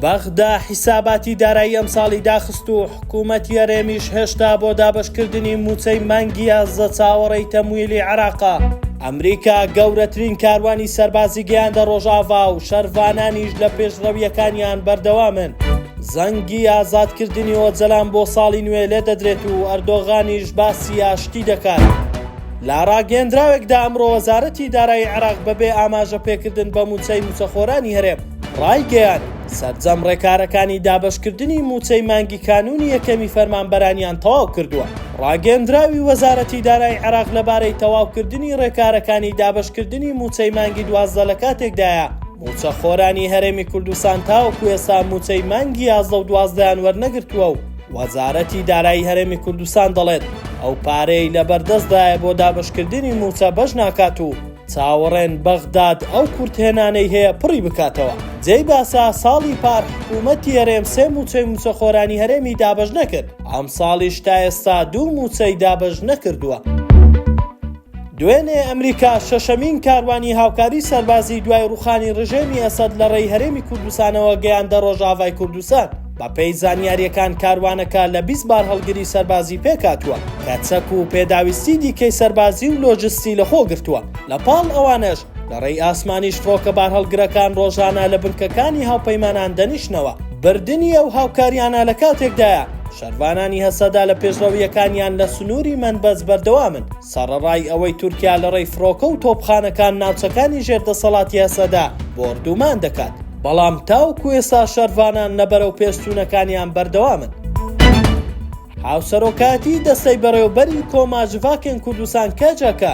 بەغدا حیساباتی دارایی ئەمساڵی داخست و حکوومەتی هەرێمیش هێشتا بۆ دابشکردنی مووچەی مانگیە زە چاوەڕێی تەمویلی عراقا. ئەمریکا گەورەترین کاروانی سەربازی گەیاندە ڕۆژاڤا و شەرڤانانیش لە پێشڕەویەکانیان بەردەوامن. زەنگی ئازادکردنی ئۆجەلان بۆ ساڵی نوێ لێدەدرێت و ئەردۆغانیش باسی ئاشتی دەکات. لە راگەیەندراوێکدا ئەمڕۆ وەزارەتی دارایی عێراق بەبێ ئاماژە پێکردن بە مووچەی مووچەخۆرانی هەرێم رایگەیاند، سەرجەم رێکارەکانی دابەشکردنی مووچەی مانگی کانوونی یەکەمی فەرمانبەرانیان تەواو کردووە. راگەیەندراوی وەزارەتی دارایی عێراق لەبارەی تەواوکردنی رێکارەکانی دابەشکردنی مووچەی مانگی دوازدە لەکاتێکدایە، مووچەخۆرانی هەرێمی کوردستان تاوەکو ئێستا مووچەی مانگی یازدە و دوازدەیان وەرنەگرتووە و، وەزارەتی دارایی هەرێمی کوردستان دەڵێت، ئەو پارەی لەبەردەستدایە بۆ دابەشکردنی مووچە بەش ناکات و چاوەڕێن بەغداد ئەو کورتهێنانەی هەیە پڕی بکاتەوە. جێی باسە، ساڵی پار حکوومەتی هەرێم سێ مووچەی مووچەخۆرانی هەرێمی دابەش نەکرد، ئەمساڵیش تا ئێستا دوو مووچەی دابەش نەکردووە. دوێنێ ئەمریکا شەشەمین کاروانی هاوکاری سەربازی دوای ڕووخانی ڕژێمی ئەسەد لە ڕێی هەرێمی کوردستانەوە گەیاندە ڕۆژئاڤای کوردستان. بەپێی زانیارییەکان کاروانەکە لە بیست بارهەڵگری سەربازی پێکهاتووە کە چەک و پێداویستی دیکەی سەربازی و لۆجستی لەخۆگرتووە، لەپاڵ ئەوانەش لە ڕێی ئاسمانیش فڕۆکە بارهەڵگرەکان ڕۆژانە لە بنکەکانی هاوپەیمانان دەنیشنەوە، بردنی ئەو هاوکاریانە لە کاتێکدایە شەرڤانانی هەسەدە لە پێشڕەوییەکانیان لە سنووری مەنبەز بەردەوامن، سەڕەڕای ئەوەی تورکیا لە ڕێی فڕۆکە و تۆپخانەکان ناوچەکانی ژێر دەسەڵاتی هەسەدە بۆردومان دەکات، بەڵام تاوەکو ئێستا شەرڤانان لە بەرەوپێشچوونەکانیان بەردەوامن. هاوسەرۆکایەتیی دەستەی بەڕێوەبەری کۆما جڤاکێن کوردستان-کەجەکە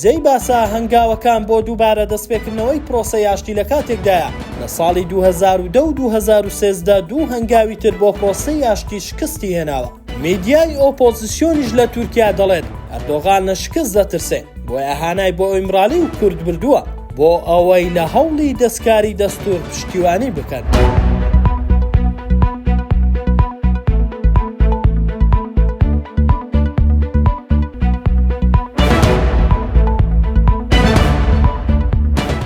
جێی باسە هەنگاوەکان بۆ دووبارە دەستپێکردنەوەی پرۆسەی ئاشتی لە کاتێکدایە، لە ساڵی دوو هەزار و دە و دوو هەزار و سێزدە دوو هەنگاوی تر بۆ پرۆسەی ئاشتی شکستی هێناوە. میدیای ئۆپۆزسیۆنیش لە تورکیا دەڵێت، ئەردۆغان لە شکست دەترسێ، بۆیە هانای بۆ ئیمرالی و کورد بردووە. بۆ ئەوەی لە هەوڵی دەستکاری دەستوور پشتیوانی بکەن.